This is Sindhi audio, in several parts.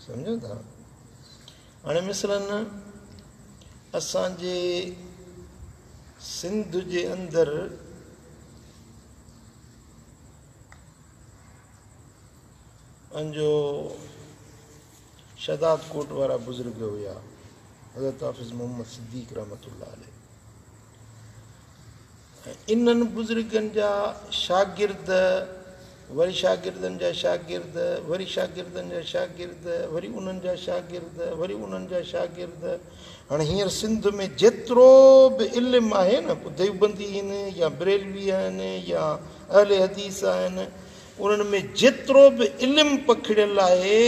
سمجهو ٿا؟ هاڻي مثلاً اسان جي سنڌ جي اندر پنهنجو شهداد ڪوٽ وارا بزرگ هيا حضرت حافظ محمد صديق رحمت الله عليه انهن بزرگن جا شاگرد وري شاگردن جا شاگرد وري شاگردن جا شاگرد وري انهن جا شاگرد وري انهن جا شاگرد هاڻي هينئر سنڌ ۾ جيترو به علم آهي نه پوء ديوبندي آهن يا بريلوي آهن يا اهل حديث آهن انهن ۾ جيترو به علم پکڙيل آهي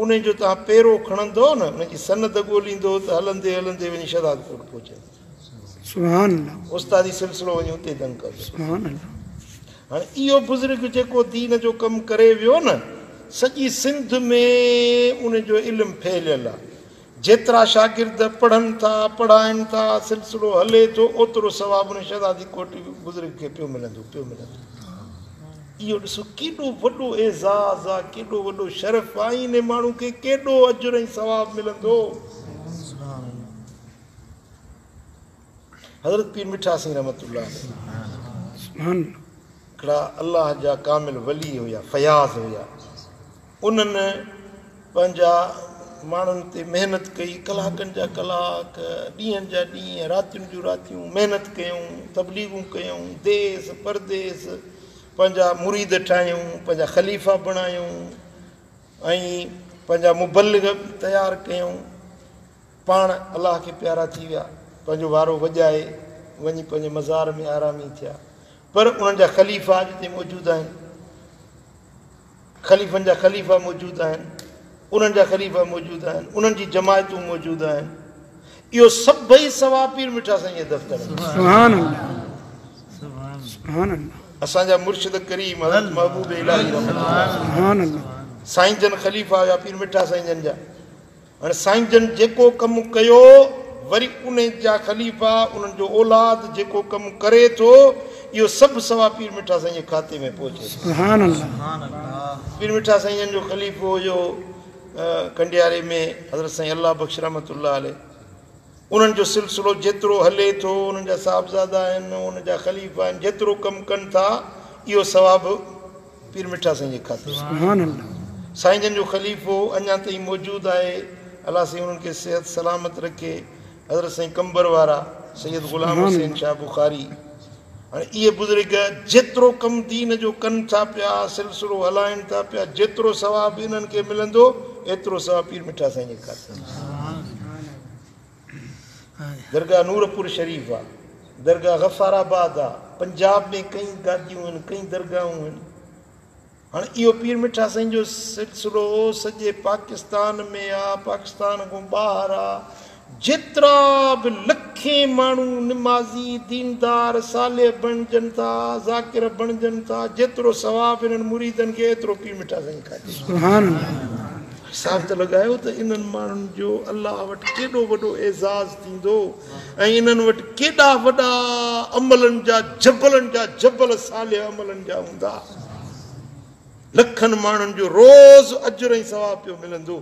انهي جو توهان پيرو کڻندؤ نه انهي جي سند ڳوليندؤ ته هلندي هلندي وڃي شهدادڪوٽ پهچندؤ. سبحان الله. استادي سلسلو وڃي اتي دنگ ڪندو. سبحان الله. هاڻي اهو بزرگ جيڪو دين جو ڪم ڪري ويو نه سڄي سنڌ ۾ ان جو علم ڦهليل آ جيترا شاگرد پڙهن ٿا پڙهائن ٿا سلسلو هلي ٿو اوترو ثواب ان شهزادي ڪوٽي بزرگ کي پيو ملندو پيو ملندو اهو ڏسو ڪيڏو وڏو اعزاز آ ڪيڏو وڏو شرف آ ان ماڻهو کي ڪيڏو اجر ۽ ثواب ملندو حضرت پير مٺا سين رحمة الله عليه هڪڙا الله جا ڪامل ولي هيا فياض هيا انهن پنهنجا ماڻهن تي محنت ڪئي ڪلاڪن جا ڪلاڪ ڏينهن جا ڏينهن راتين جون راتيون محنت ڪيون تبليغون ڪيون ديس پرديس پنهنجا مريد ٺاهيون پنهنجا خليفا بڻايون ۽ پنهنجا مبلغ تيار ڪيون پاڻ الله کي پيارا ٿي ويا، پنهنجو وارو وڄائي وڃي پنهنجي مزار ۾ آرامي ٿيا، پر انهن جا خليفا اڄ تائين موجود آهن، خليفن جا خليفا موجود آهن، انهن جا خليفا موجود آهن، انهن جي جماعتون موجود آهن، اهو سڀئي ثواب پير مٺا سائينء جي دفتر ۾. سبحان الله سبحان الله. اسان جا مرشد ڪريم حضرت محبوب الاھي رحمت الله سبحان الله سائين جن خليفا هيا پير مٺا سائين جن جا. هن سائين جن جيڪو ڪم ڪيو وري انهي جا خليفا انهن جو اولاد جيڪو ڪم ڪري ٿو اهو سڀ ثواب پير مٺا سائين جي کاتي ۾ پهچي ٿو سبحان الله پير مٺا سائين جن جو خليفو هيو ڪنڊياري ۾ حضرت سائين الله بخش رحمة الله عليه انهن جو سلسلو جيترو هلي ٿو، انهن جا صاحبزادا آهن، انهن جا خليفا آهن، جيترو ڪم ڪن ٿا، اهو ثواب پير مٺا سائين جي کاتي آهي. سائين جن جو خليفو اڃا تائين موجود آهي، الله سائين انهن کي صحت سلامت رکي، حضرت سائين قمبر وارا سيد غلام حسين شاهه بخاري. هاڻي اهي بزرگ جيترو ڪم دين جو ڪن ٿا پيا، سلسلو هلائين ٿا پيا، جيترو ثواب انهن کي ملندو، ايترو ثواب پير مٺا سائين جي خاطر درگاهه نورپور شريف آ، درگاهه غفار آباد آ، پنجاب ۾ ڪئين گاديون هن، ڪئين درگاهون هن. هاڻي اهو پير مٺا سائين جو سلسلو سڄي پاڪستان ۾ آ، پاڪستان کان ٻاهر آ، جيترا به لکين ماڻهو نمازي، ديندار، صالح بڻجن ٿا، ذاڪر بڻجن ٿا، جيترو ثواب انهن مريدن کي ايترو پير مٺا سائين کان ڏي. سبحان الله. حساب ته لڳايو ته انهن ماڻهن جو الله وٽ ڪيڏو وڏو اعزاز ٿيندو. ۽ انهن وٽ ڪيڏا وڏا عملن جا جبلن جا جبل صالح عملن جا هوندا. لکن ماڻهن جو روز اجر ۽ ثواب پيو ملندو.